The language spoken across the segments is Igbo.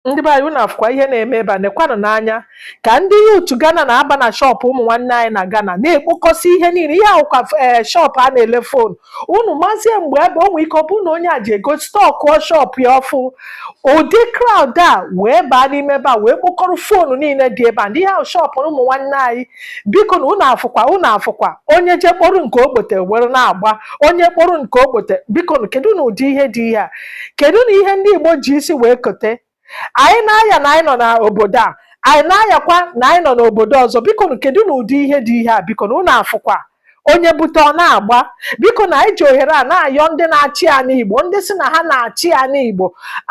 ndị be anyị unu afụkwa ihe na-eme ebe a nekwanụnụ anya ka ndị yutu Ghana na-aba na shọpụ ụmụ nwanne anyị na Ghana na-ekpokọsị ihe niile ihe a wụkwa ee shọpụ a na-ele fonu unu mazie mgbe ebe o nwee ike ọ bụrụ na onye a ji ego stọkụọ shọpụ ya ọfụrụ ụdị kraụd a wee baa n'ime ebe a wee kpokọrọ fonu niile dị ebe a ndị ihe a wụ shọpụ ụmụ nwanne anyị biko nụ unu afụkwa unu afụkwa onye je kporo nke o bute were na-agba onye kporo nke o bute biko kedu nụ ụdị ihe dị ihe a kedu nụ ihe ndị Igbo ji isi wee kote anyị na-aya na anyị nọ n'obodo a anyị na-ayakwa na anyị nọ n'obodo ọzọ biko nụ kedu nụ ụdị ihe dị ihe a biko nụ unu afụkwa onye bute ọ na-agba biko nụ anyị ji ohere a na-ayọ ndị na-achị anị Igbo ndị si na ha na-achị anị Igbo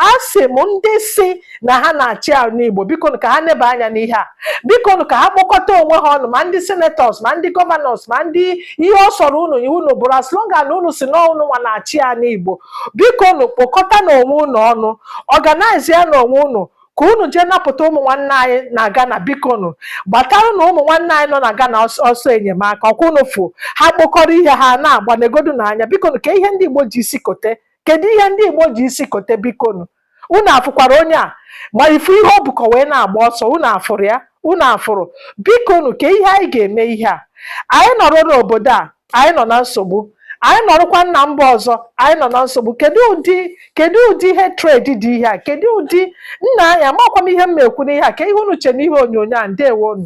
asị m ndị si na ha na-achị anị Igbo biko nụ ka ha neba anya n'ihe a biko nụ ka ha kpokọta onwe ha ọnụ ma ndị senetọs ma ndị gọvanọs ma ndị ihe ọ sọrọ unu wụ unu bụrụ as long as unu si na unu nwa na-achị anị Igbo biko nụ kpokọtanụ onwe unu ọnụ ọganaizianụ onwe unu ka unu jee napụta ụmụ nwanne anyị na Ghana biko nụ gbataranụ ụmụ nwanne anyị nọ na Ghana ọsọ enyemaka ọkwa unu fụ ha kpokọrọ ihe ha na-agba negodunụ anya biko nụ kee ihe ndị Igbo ji isi kote kedu ihe ndị Igbo ji isi kote biko nụ unu afụkwara onye a ma ị fụ ihe o bukọ wee na-agba ọsọ unu afụrụ ya unu afụrụ biko nụ kee ihe anyị ga-eme ihe a anyị nọrọ n'obodo a anyị nọ na nsogbu anyị nọrọkwa na mba ọzọ anyị nọ na nsogbu kedu ụdị kedu ụdị hatred dị ihe a kedu ụdị nna anyị amakwa m ihe m na-ekwu n'ihe a kee ihe unu che n'ihe onyonyo a ndewo nụ